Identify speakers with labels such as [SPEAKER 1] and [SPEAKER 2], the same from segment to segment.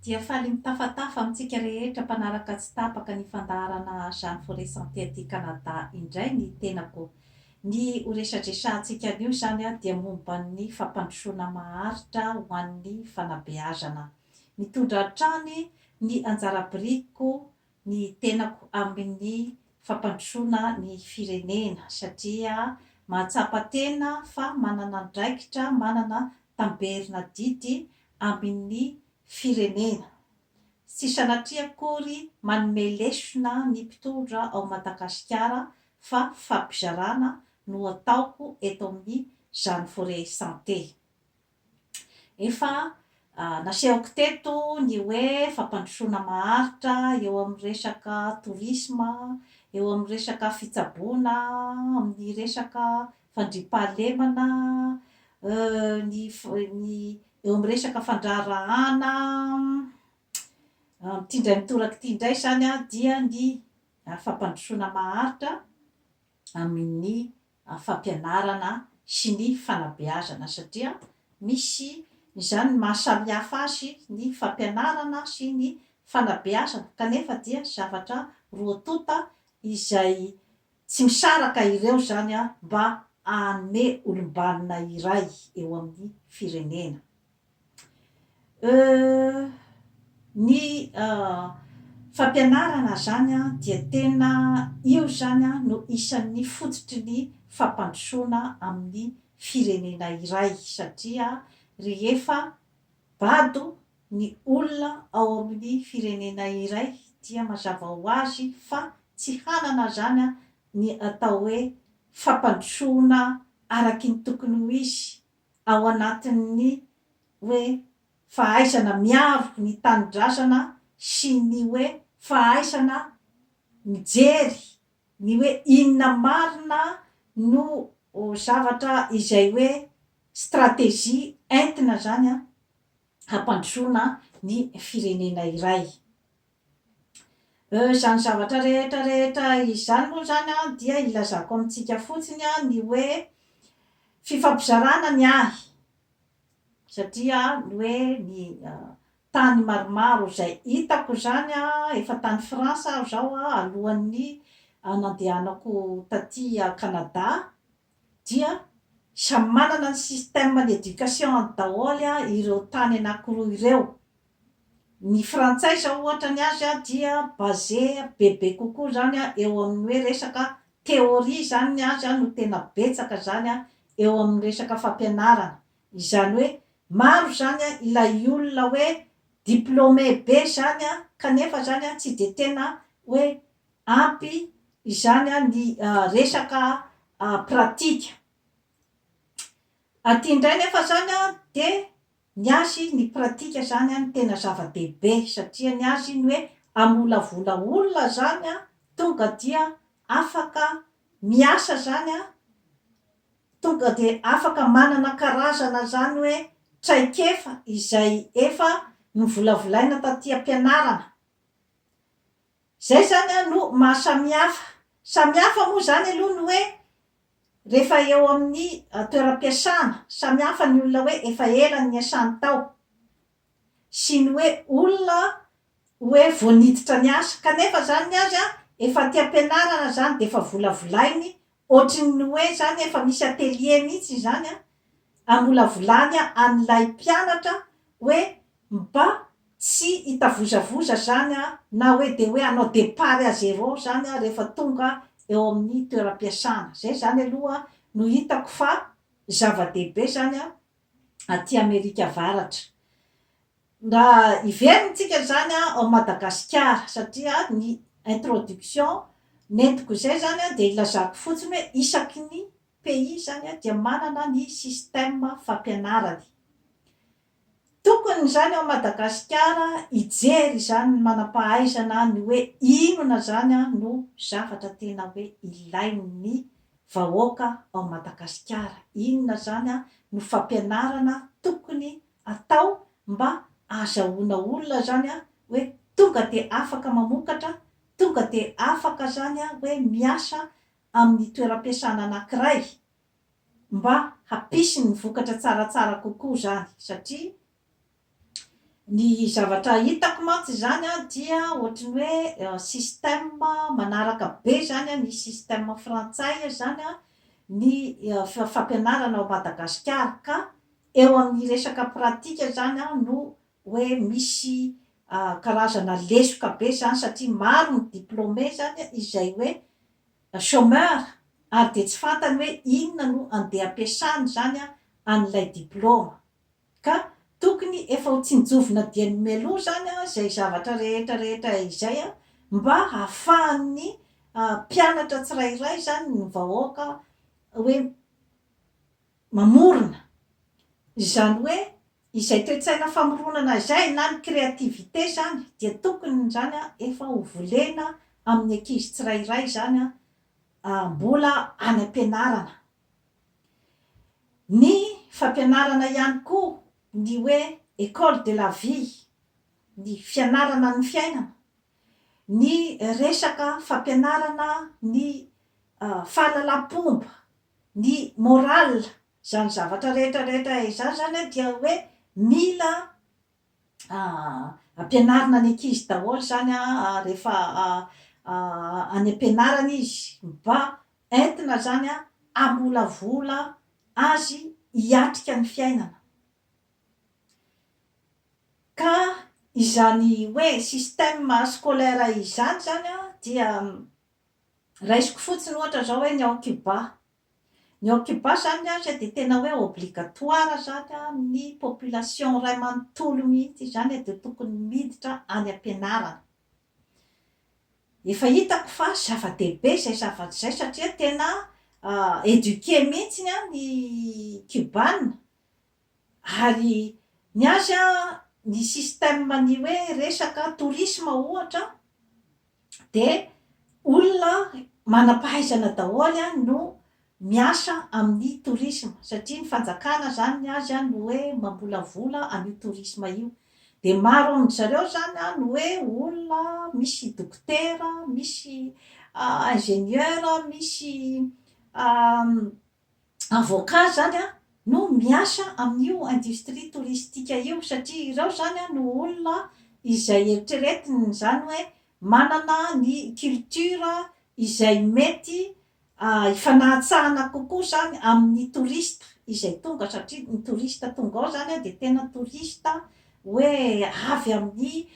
[SPEAKER 1] dia faly mitafatafa amintsika rehetra mpanaraka tsy tapaka ny fandaharana Jeanne Forest Santé aty Canada indray ny tenako. Ny ho resadresahantsika anio izany dia momba ny fampandrosoana maharitra ho an'ny fanabeazana. Mitondra hatrany ny anjara birikiko ny tenako amin'ny fampandrosoana ny firenena satria mahatsapa tena fa manana andraikitra, manana tamberina didy amin'ny firenena. Tsy sanatria akory manome lesona ny mpitondra ao Madagasikara fa fampizarana no ataoko eto amin'izany Forêt Santé. Efa nasehoko teto ny hoe fampandrosoana maharitra eo amin'ny resaka tourisme, eo amin'ny resaka fitsaboana amin'ny resaka fandriampahalemana, ny ny eo amin'ny resaka fandraharahàna, amin'ity indray mitoraka ity indray izany dia ny fampandrosoana maharitra amin'ny fampianarana sy ny fanabeazana satria misy izany ny maha samy hafa azy ny fampianarana sy ny fanabeazana kanefa dia zavatra roa tonta izay tsy misaraka ireo izany mba hanome olom-banona iray eo amin'ny firenena. Euh ny fampianarana zany an dia tena io zany an no isan'ny fototry ny fampandrosoana amin'ny firenena iray satria rehefa bado ny olona ao amin'ny firenena iray dia mazava ho azy fa tsy hanana zany an ny atao hoe fampandrosoana araky ny tokony ho izy ao anatin'ny hoe fahaisana miavoko ny tanindrazana sy ny hoe fahaisana mijery ny hoe inona marina no zavatra izay hoe stratejia entina zany hampandrosoana ny firenena iray. Euh, izany zavatra rehetra rehetra izany moa izany an, dia ilazako amintsika fotsiny an, ny hoe fifampizarana ny ahy, satria ny hoe ny tany maromaro izay hitako izany an, efa tany France aho izao an, alohan'ny nandehanako taty Canada, dia samy manana ny système d'education-ny daholo ireo tany anankiroa ireo. Ny frantsay izao ohatra ny azy dia basé bebe kokoa izany eo amin'ny hoe resaka théorie izany ny azy no tena betsaka izany eo amin'ny resaka fampianarana. Izany hoe maro izany ilay olona hoe diplômé be izany kanefa izany tsy dia tena hoe Ampy izany ny resaka pratika. Aty indray nefa izany dia ny azy ny pratika izany no tena zava-dehibe satria ny azy ny hoe hamolavola olona izany tonga dia afaka miasa izany, tonga dia afaka manana karazana izany hoe traikefa izay efa novolavolaina taty am-pianarana. Zay zany an no maha samihafa. Samihafa moa zany aloha ny hoe rehefa eo amin'ny toeram-piasana. Samihafa ny olona hoe efa ela niasany tao sy ny hoe olona hoe vao niditra niasa. Kanefa zany ny azy an efa aty am-pianarana zany dia efa volavolainy Ohatry ny hoe zany efa misy atelier mihitsy izany an, amolavolany an'ilay mpianatra hoe mba tsy hitavozavoza zany an, na hoe dia hoe hanao départ à zéro zany an rehefa tonga eo amin'ny toeram-piasana. Izay zany aloha no hitako fa zava-dehibe zany an aty Amerika Avaratra. Nga hiverina tsika zany a ao Madagasikara satria ny introduction nentiko izay zany a dia ilazako fotsiny hoe isaky ny pays zany a dia manana ny système fampianarany. Tokony izany ao Madagasikara hijery izany ny manam-pahaizana ny hoe inona zany a no zavatra tena hoe ilain'ny vahoaka ao Madagasikara, inona zany a no fampianarana tokony atao mba azahoana olona zany a hoe tonga de afaka mamokatra, tonga de afaka zany a hoe miasa amin'ny toeram-piasana anankiray mba hampisy ny vokatra tsaratsara kokoa zany satria ny zavatra hitako mantsy zany a dia ohatry ny hoe système manaraka be zany a ny système frantsay zany a ny fampianarana ao Madagasikara ka Eo amin'ny resaka pratika izany aho no hoe misy karazana lesoka be izany satria maro ny diplômé izany izay hoe chômeur ary dia tsy fantany hoe inona no andeha ampiasany izany an'ilay diplôma. Ka tokony efa ho tsinjovina dieny mialoha izany izay zavatra rehetra rehetra izay mba hahafahan'ny mpianatra tsirairay izany, ny vahoaka hoe mamorona, izany hoe izay toe-tsaina famoronana izay na ny créativité izany dia tokony izany efa ho volena amin'ny ankizy tsirairay izany mbola any am-pianarana. Ny fampianarana ihany koa ny hoe école de la vie, ny fianarana ny fiainana, ny resaka fampianarana ny fahalalam-pomba, Ny morale zany zavatra rehetra rehetra izany zany dia hoe mila ampianarina ny ankizy daholo zany rehefa any ampianarana izy mba entina zany hamolavola azy hiatrika ny fiainana. Ka izany hoe système scolaire izany zany dia Raisiko fotsiny ohatra zao hoe ny ao Cuba. Ny ao Cuba zany an, dia tena hoe obligatoire zany amin'ny population iray manontolo mihitsy izany an, dia tokony miditra any am-pianarana. Efa hitako fa zava-dehibe izay zavatra izay satria tena éduqué mihitsy ny Cubana. Ary ny azy an, ny système ny hoe resaka tourisme ohatra dia olona manam-pahaizana daholo an no miasa amin'ny tourisme satria ny fanjakana zany ny azy an no hoe mambolavola an'io tourisme io dia maro amin-dry zareo zany an no hoe olona misy dokotera, misy ingénieur, misy avocat zany no miasa amin'io industrie touristique io satria ireo zany no olona izay eritreretiny zany hoe manana ny culture izay mety hifanahatsahana kokoa zany amin'ny touriste izay tonga satria ny touriste tonga ao zany dia tena touriste hoe avy amin'ny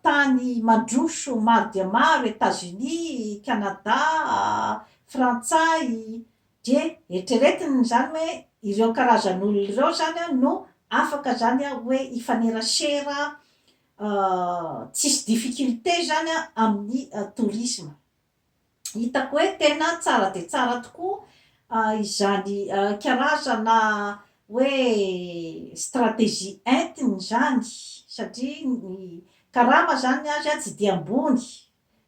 [SPEAKER 1] tany mandroso maro dia maro Etats-Unis, Canada, Frantsay, dia eritreretiny izany hoe ireo karazan'olona ireo izany no afaka izany hoe hifanerasera tsisy difficulté izany amin'ny tourisme. Hitako hoe tena tsara dia tsara tokoa izany karazana hoe stratégie entiny izany satria ny karama izany ny azy tsy dia ambony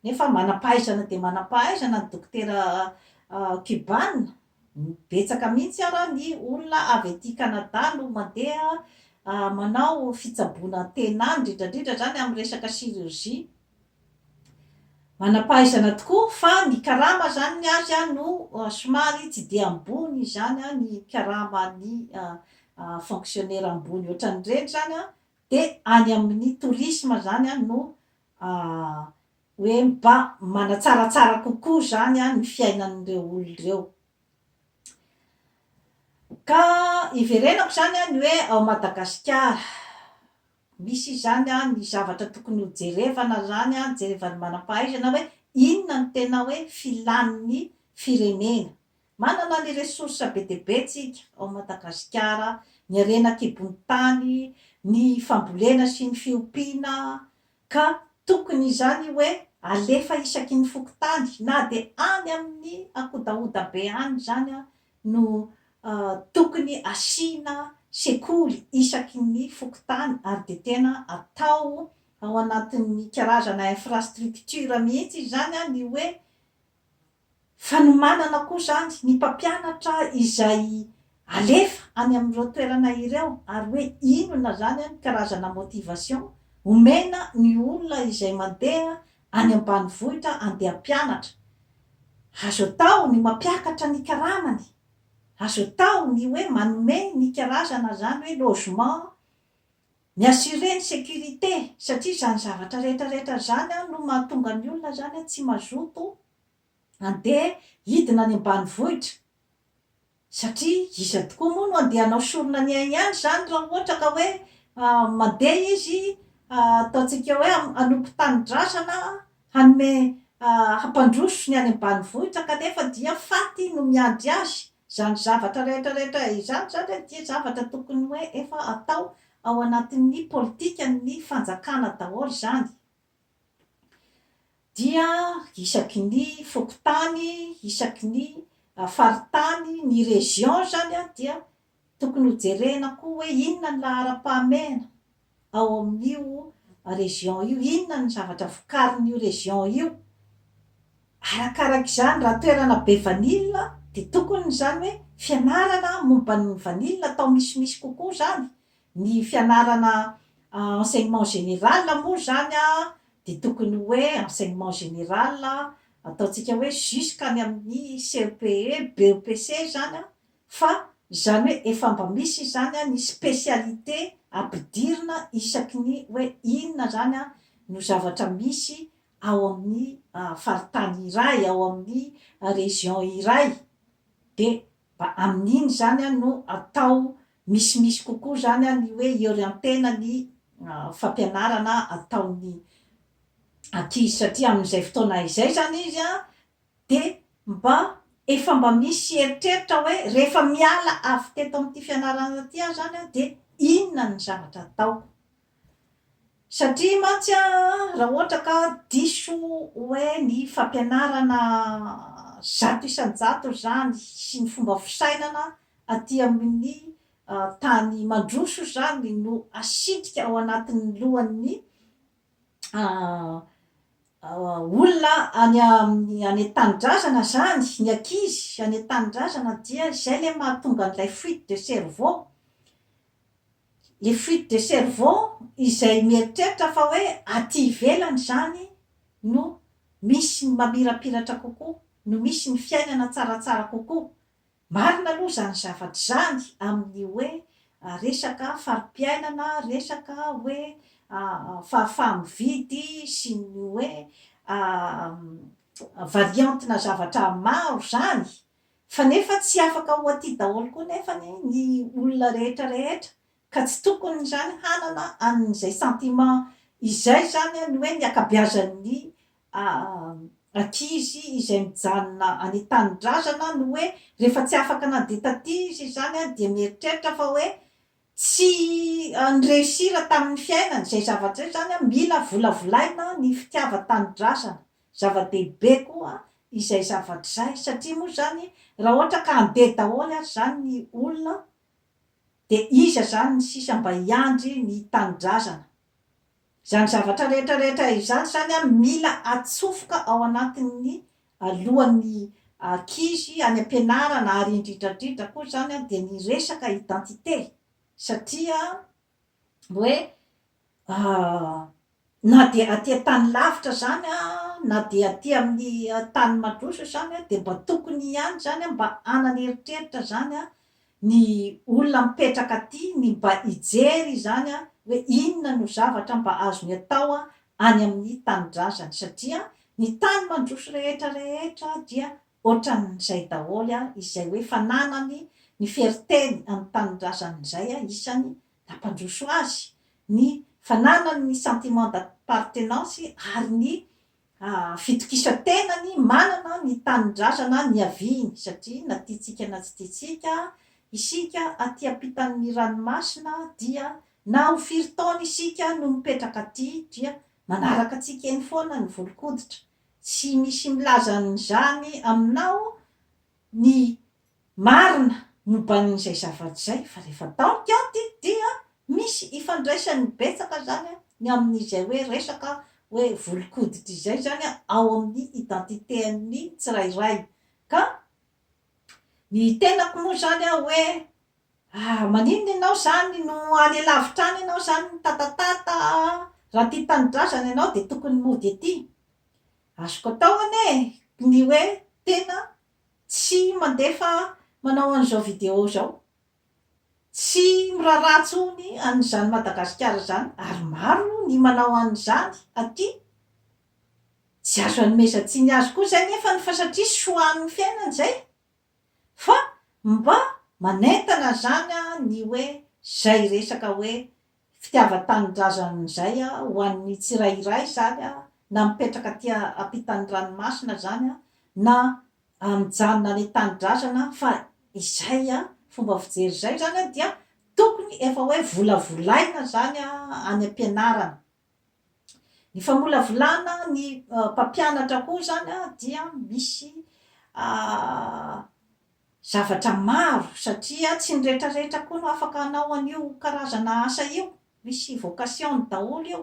[SPEAKER 1] Nefa manam-pahaizana dia manam-pahaizana ny dokotera Cubana. Betsaka mihitsy ary ny olona avy aty Canada no mandeha manao fitsaboana tena any, indrindra indrindra izany amin'ny resaka chirurgie. Manam-pahaizana tokoa fa ny karama izany ny azy no somary tsy dia ambony izany ny karaman'ny fonctionnaire ambony ohatran'ireny izany dia any amin'ny tourisme izany no Aah, hoe mba manatsaratsara kokoa izany an ny fiainan'ireo olona ireo. Ka iverenako izany an ny hoe ao Madagasikara, misy izany an ny zavatra tokony ho jerevana izany an, jerevan'ny manam-pahaizana hoe inona no tena hoe filan'ny firenena, Manana ny ressources be dia be tsika ao Madagasikara, ny harena an-kibon'ny tany, ny fambolena sy ny fiompiana, ka tokony izany hoe alefa isaky ny fokontany na dia any amin'ny ankodahoda be any izany no tokony asiana sekoly isaky ny fokontany ary dia tena atao ao anatin'ny karazana infrastructure mihitsy izany ny hoe Fanomanana koa izany ny mpampianatra izay alefa any amin'ireo toerana ireo ary hoe inona izany ny karazana motivation omena ny olona izay mandeha any ambanivohitra andeha hampianatra. Azo atao ny mampiakatra ny karamany, azo atao ny hoe manome ny karazana izany hoe logement Mi assurer ny sécurité satria izany zavatra rehetra rehetra izany an no mahatonga ny olona izany an tsy mazoto handeha hidina any ambanivohitra satria iza tokoa moa no handeha hanao sorona ny ainy any izany raha ohatra ka hoe mandeha izy ataontsika hoe hanompo tanindrazana Hanome hampandroso ny any ambanivohitra kanefa dia faty no miandry azy. Izany zavatra rehetra rehetra izany izany dia zavatra tokony hoe efa atao ao anatin'ny politikan'ny fanjakana daholo izany. Dia isaky ny fokontany, isaky ny faritany, ny région izany dia Tokony ho jerena koa hoe inona ny laharam-pahamehana ao amin'io région io, inona ny zavatra vokarin'io région io. Arakarak'izany, raha toerana be vanille dia tokony izany hoe fianarana momba ny vanille atao misimisy kokoa izany, ny fianarana enseignement général moa izany dia tokony hoe enseignement général ataontsika hoe jusqu'any amin'ny CEPE, BEPC izany an, fa izany hoe efa mba misy izany an ny spécialité ampidirina isaky ny hoe inona izany an no zavatra misy ao amin'ny faritany iray, ao amin'ny région iray, dia mba amin'iny izany an no atao misimisy kokoa izany an ny hoe iorientena ny fampianarana ataon'ny ankizy satria amin'izay fotoana izay izany izy an Dia mba efa mba misy eritreritra hoe rehefa miala avy teto amin'ity fianarana ity aho izany an, dia inona ny zavatra ataoko. Satria mantsy an, raha ohatra ka diso hoe ny fampianarana zato isan-jato izany sy ny fomba fisainana aty amin'ny tany mandroso izany no asitrika ao anatin'ny lohan'ny olona any amin'ny any an-tanindrazana izany, ny ankizy any an-tanindrazana dia izay ilay mahatonga an'ilay fuite de cerveau. Ilay fuite de cerveau izay mieritreritra fa hoe aty ivelany izany no misy ny mamirapiratra kokoa, no misy ny fiainana tsaratsara kokoa. Marina aloha izany zavatra izany amin'ny hoe resaka fari-piainana, resaka hoe fahafaha-mividy sy ny hoe variante-na zavatra maro izany, fa nefa tsy afaka ho aty daholo koa nefa ny olona rehetra rehetra Ka tsy tokony izany hanana an'izay sentiment izay izany ny hoe ny akabeazan'ny ankizy izay mijanona any tanindrazana no hoe rehefa tsy afaka nandeha taty izy izany dia mieritreritra fa hoe tsy ni-reussir tamin'ny fiainany izay zavatra izay izany mila volavolaina ny fitiavan-tanindrazana zava-dehibe koa izay zavatra izay satria moa izany raha ohatra ka handeha daholo ary izany ny olona de iza zany ny sisa mba hiandry ny tanindrazana? Zany zavatra rehetra rehetra izany zany an mila atsofoka ao anatin'ny lohan'ny ankizy any ampianarana ary indridra indridra koa zany an de ny resaka identité satria hoe Aah! Na dia aty an-tany lavitra izany na dia aty amin'ny tany mandroso izany dia mba tokony ihany izany mba hanana eritreritra izany ny olona mipetraka aty ny mba hijery izany hoe inona no zavatra mba azony atao any amin'ny tanindrazany satria ny tany mandroso rehetra rehetra dia Ohatran'izay daholo izay hoe fananany ny feriteny amin'ny tanindrazany izay isany nampandroso azy, ny fananany ny sentiment d'appartenance ary ny fitokisan-tenany manana ny tanindrazana niaviany satria na tiantsika na tsy tiantsika isika aty ampitan'ny ranomasina dia na ho firy taona isika no mipetraka aty dia manaraka antsika eny foana ny volon-koditra Tsy misy milaza an'izany aminao ny marina momban'izay zavatra izay fa rehefa dans kianty dia misy ifandraisany betsaka izany ny amin'izay hoe resaka hoe volon-koditra izay izany ao amin'ny identité-n'ny tsirairay ka Ny tenako moa zany aho hoe ah maninona ianao zany no any alavitra any ianao zany mitatatata raha tia tanindrazana ianao dia tokony mody aty. Azoko atao anie ny hoe tena tsy mandefa manao an'izao vidéo zao. Tsy miraharaha tsony an'izany Madagasikara zany ary maro ny manao an'izany aty. Tsy azo anomezan-tsiny azy koa izay anefa ny fa satria soa amin'ny fiainany izay. Fa mba manentana izany ny hoe izay resaka hoe fitiavan-tanindrazana izay ho an'ny tsirairay izany na mipetraka aty ampitan'ny ranomasina izany na mijanona any an-tanindrazana fa izay fomba fijery izay izany dia tokony efa hoe volavolaina izany any am-pianarana. Ny famolavolana ny mpampianatra koa izany dia misy zavatra maro satria tsy ny rehetrarehetra koa no afaka hanao an'io karazana asa io, misy vocation-ny daholo io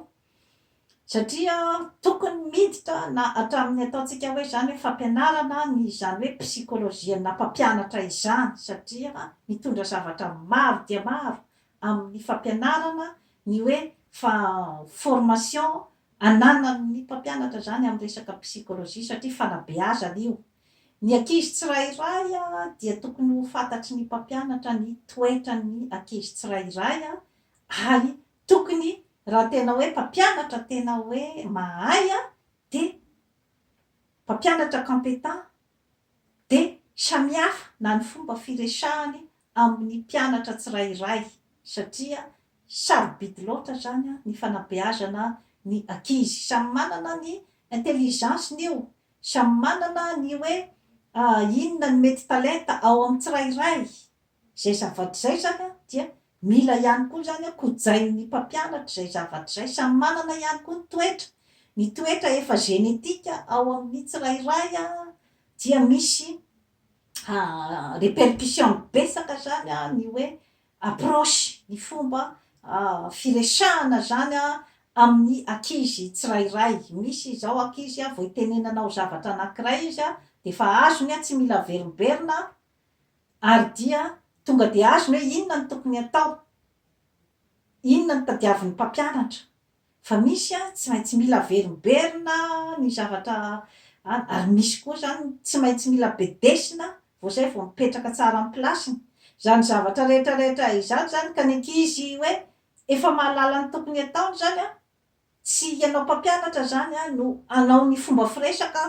[SPEAKER 1] satria tokony miditra na hatramin'ny ataontsika hoe izany hoe fampianarana ny izany hoe psychologie-na mpampianatra izany satria mitondra zavatra maro dia maro amin'ny fampianarana ny hoe fa formation ananan'ny mpampianatra izany amin'ny resaka psychologie satria fanabeazana io. Ny ankizy tsirairay dia tokony ho fantatry ny mpampianatra ny toetran'ny ankizy tsirairay ary tokony raha tena hoe mpampianatra tena hoe mahay dia mpampianatra competent dia samihafa na ny fomba firesahany amin'ny mpianatra tsirairay satria sarobidy loatra izany ny fanabeazana ny ankizy. Samy manana ny intelligence-ny io, samy manana ny hoe inona ny mety talenta ao amin'ny tsirairay. Izay zavatra izay izany an, dia mila ihany koa izany an, kojain'ny mpampianatra izay zavatra izay. Samy manana ihany koa ny toetra. Ny toetra efa génétique ao amin'ny tsirairay an, dia misy répercussion betsaka izany an, ny hoe approche, ny fomba firesahana izany an, amin'ny ankizy tsirairay. Misy izao ankizy an, vao itenenanao zavatra anankiray izy an, dia efa azony an, tsy mila averimberina an, Ary dia tonga dia azony hoe inona no tokony hatao, inona no tadiavin'ny mpampianatra, fa misy tsy maintsy mila averimberina ny zavatra an, ary misy koa izany tsy maintsy mila bedesina vao izay vao mipetraka tsara amin'ny place-ny. Izany zavatra rehetra rehetra izany izany ka ny ankizy hoe efa mahalala ny tokony hataony izany an, Tsy ianao mpampianatra izany an no hanao ny fomba firesaka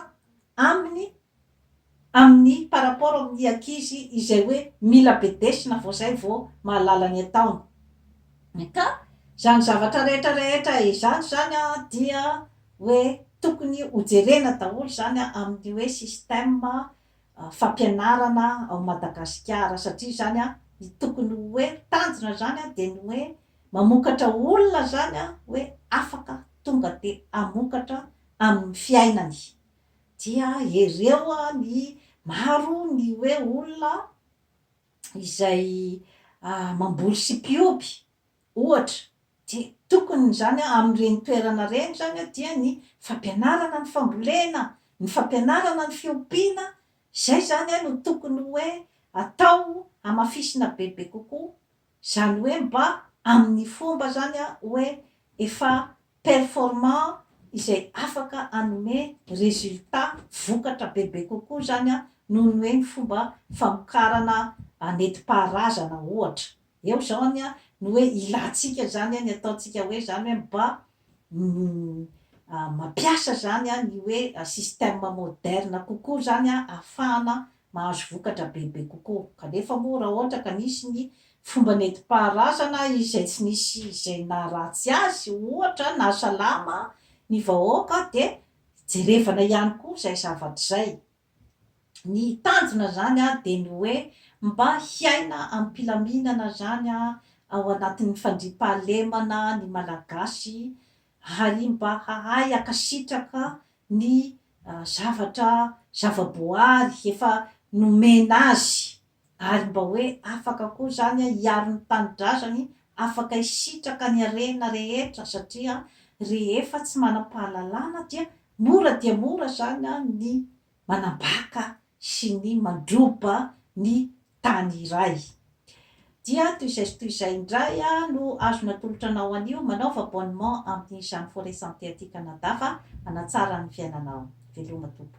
[SPEAKER 1] aminy amin'ny par rapport amin'ny ankizy izay hoe mila bedesina vao izay vao mahalala ny ataony. Ka izany zavatra rehetra rehetra izany izany an dia hoe tokony hojerena daholo izany amin'ny hoe système fampianarana ao Madagasikara satria zany ny tokony ho hoe tanjona zany dia ny hoe mamokatra olona zany hoe afaka tonga dia hamokatra amin'ny fiainany dia hereo ny maro ny hoe olona izay mamboly sy mpioby Ohatra, dia tokony izany amin'ireny toerana ireny izany dia ny fampianarana ny fambolena, ny fampianarana ny fiompiana, izay izany no tokony hoe atao hamafisina bebe kokoa, izany hoe mba amin'ny fomba izany hoe efa performant izay afaka hanome résultat, vokatra bebe kokoa izany noho ny hoe ny fomba famokarana nentim-paharazana ohatra. Eo izany an, ny hoe ilantsika izany an, ny ataontsika hoe izany hoe mba mampiasa izany an, ny hoe système moderne kokoa izany an, ahafahana mahazo vokatra bebe kokoa. Kanefa moa raha ohatra ka nisy ny fomba nentim-paharazana izay tsy nisy izay naharatsy azy, ohatra, nahasalama ny vahoaka dia jerevana ihany koa izay zavatra izay. Ny tanjona zany dia ny hoe mba hiaina ampilaminana zany ao anatin'ny fandriampahalemana ny Malagasy ary mba hahay hankasitraka ny zavatra zavaboary efa nomena azy Ary mba hoe afaka koa izany hiaro ny tanindrazany, afaka hisitraka ny harena rehetra satria rehefa tsy manam-pahalalana dia mora dia mora izany ny manambaka sy ny mandroba ny tany iray. Dia toy izay sy toy izay indray no azo natolotra anao anio, manaova abonnement amin'ny Jeanne Forêt Santé aty Canada fa hanatsara ny fiainanao. Veloma Tompo.